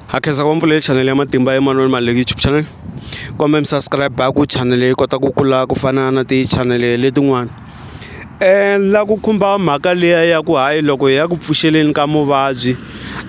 ha khensa ku mpfulele chanele ya matimba emanoni mali le youtube channel kumbe mi subscribe ku chanele yi kota ku kula ku fana na tichanele letin'wana um la ku khumba mhaka liya ya ku hayi loko hi ya ku pfuxeleni ka muvabyi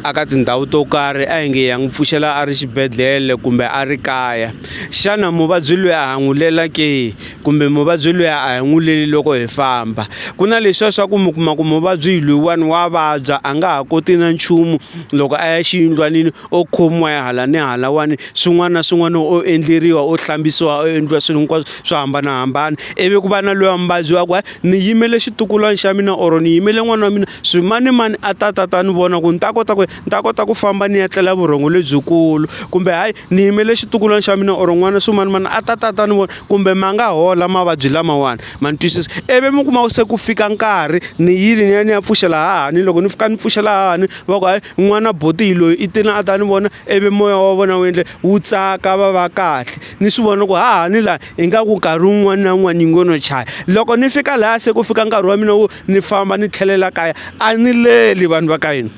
a ka tindhawu to karhi a hi nge ya n'wi pfuxela a ri xibedhlele kumbe a ri kaya xana muvabyi loyi a hangulela ke kumbe muvabyi luya a hi n'wi leli loko hi famba ku na leswiya swa ku mi kuma ku muvabyi loyiwani wa vabya a nga ha koti na nchumu loko a ya xiyindlwanini o khomiwa ya hala ni halawani swin'wana na swin'wana o endleriwa o hlambisiwa o endliwa swilo hinkwaswo swo hambanahambana ivi ku va na loya muvabyi wa ku hayi ni yimele xitukulwana xa mina or ni yimele n'wana wa mina swimanimani a ta ta ta ni vona ku ni ta kota ku ni ta kota ku famba ni ya tlela vurhongo lebyikulu kumbe hayi ni yimele xitukulwana xa mina or n'wana swimanimani a ta ta ta ni vona kumbe ma nga hola mavabyi lamawani ma ni twisisa ivi mi kuma se ku fika nkarhi ni yile ni ya ni ya pfuxela hahani loko ni fika ni pfuxela hahani va ku hayi n'wana botihi loyi i tini a ta ni vona ivi moya wa vona wu endle wu tsaka va va kahle ni swi vona loko hahani laha ingaku nkarhi wun'wana na wun'wana yi ngo no chaya loko ni fika laha se ku fika nkarhi wa mina wo ni famba ni tlhelela kaya a ni leli vanhu va ka hina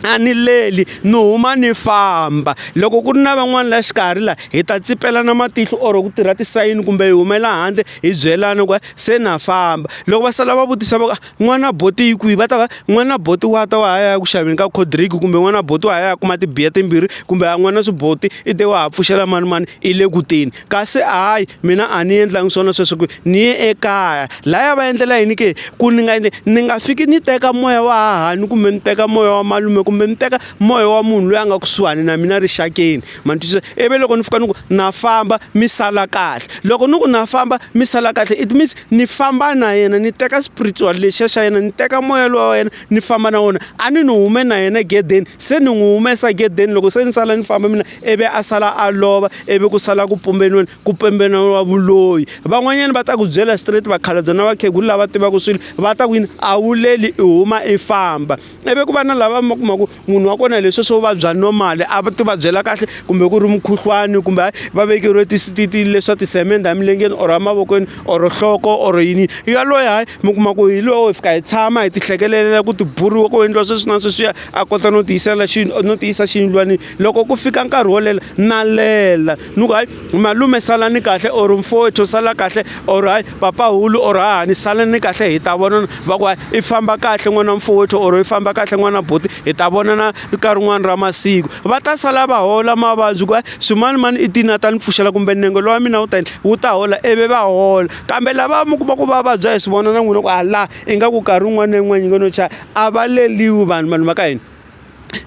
a ni leli ni huma ni famba loko ku ri na van'wani la xikarhi la hi ta tsipelana matihlo or ku tirha tisayini kumbe hi humela handle hi byelana ku se na famba loko va sala va vutisa va ku n'wana bolt yi kwihi va ta va n'wana bolt wa ta wa ha ya ku xaveni ka cold drink kumbe n'wana bolt wa ha ya kuma tibiya timbirhi kumbe a n'wana swi bolt i te wa ha pfuxela manimani i le ku teni. kasi hayi mina a ni endlangi swona sweswi ku ni ye ekaya laya va endlela yini ke ku ni nga ni nga fiki ni teka moya wa hahani kumbe ni teka moya wa malume kumbe ni teka moya wa munhu loyi a nga kusuhani na mina rixakeni ma ni twisisa ivi loko ni fika ni ku na famba mi sala kahle loko ni ku na famba mi sala kahle it means ni famba na yena ni teka spiritual lexiya xa yena ni teka moya lowa wa yena ni famba na wona a ni ni hume na yena gedeni se ni n'wi humesa gedeni loko se ni sala ni famba mina. ivi a sala a lova ivi ku sala ku pumbeniweni ku pembeneriwa vuloyi van'wanyana va ta ku byela straight vakhalabye na vakhegulu lava tivaka swilo va ta ku yini a wu leli i huma i famba ivi ku va na lava ma kuma ku munhu wa kona leswi swo vabya normal a va ti vabyela kahle kumbe ku ri mukhuhlwani kumbe hayi va vekeriwe tisititi leswa tisemende emilengeni or emavokweni or nhloko or yini yaloye hayi mi kuma ku hi lowo hi fika hi tshama hi ti hlekelela ku ti buriwa ku endliwa sweswi na sweswiya a kota no tiyisela xi no tiyisa xiyindlwanini loko ku fika nkarhi wo lela na lela ni ku hayi malume salani kahle or mfowethu sala kahle or hayi papahulu or hahani salani kahle hi ta vonana va ku hayi i famba kahle n'wana mfowethu or i famba kahle n'wana buti hi ta vonana ka rin'wana ra masiku va ta sala va hola mavabyi ku hayi swimanimani i tini a ta ni pfuxela kumbe nenge lowa mina wu ta yini wu ta hola ivi va hola kambe lava mi kuma ku va vabya hi swi vona na n'wina ku ha laha ingaku nkarhi wun'wana na yin'wana yi ngo no chaya a va leliwi vanhu vanhu va ka hina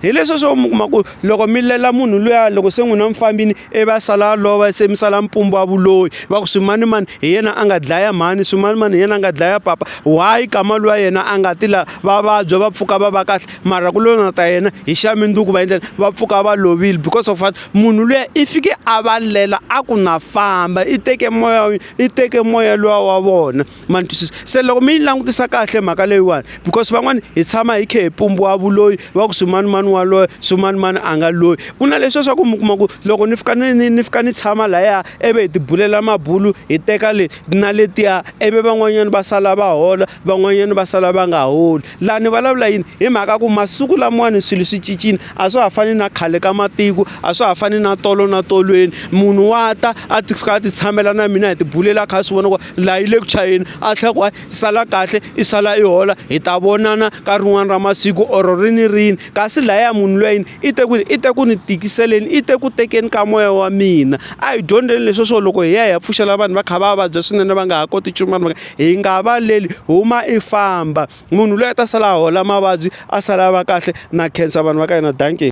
hi leswi swo mi kuma ku loko mi lela munhu luya loko se n'wina mi fambini ivi a sala a lova se mi sala mpumbu wa vuloyi va ku swimanimani hi yena a nga dlaya mhani swimanimani hi yena a nga dlaya papa why kama luya yena a nga ti la va vabya va pfuka va va kahle mara ku lona ta yena hi xa mindzuku va endlela va pfuka va lovile because of what munhu luya i fike a va lela a ku na famba i teke moya i teke moya luwa wa vona ma ni twisisa se loko mi yi langutisa kahle mhaka leyiwani because van'wani hi tshama hi khe hi pumbiwa vuloyi va ku swimanimani wa loyi swimanimani a nga loyi ku na leswiya swa ku mi kuma ku loko ni fika ni ni ni fika ni tshama lahaya ivi hi tibulela mabulu hi teka le na letiya ivi van'wanyani va sala va hola van'wanyani va sala va nga holi laha ni vulavula yini hi mhaka ku masiku lamawani swilo swi cincile a swa ha fani na khale ka matiko a swa ha fani na tolo na tolweni munhu wa ta a ti fika a ti tshamela na mina hi tibulela kha a swi vona ku laha yi le ku chayeni a tlhela ku sala kahle i sala i hola hi ta vonana ka rin'wana ra masiku or ri ni rini kasi lahaya munhu lweyi i te ku i te ku ni tikiseleni i te ku tekeni ka moya wa mina a hi dyondzeni leswi swo loko hi ya hi ya pfuxela vanhu va kha va vabya swinene va nga ha koti nchumu vanhu va hi nga valeli huma i famba munhu loyi a ta sala a hola mavabyi a sala a va kahle na khensa vanhu va ka hina dankie.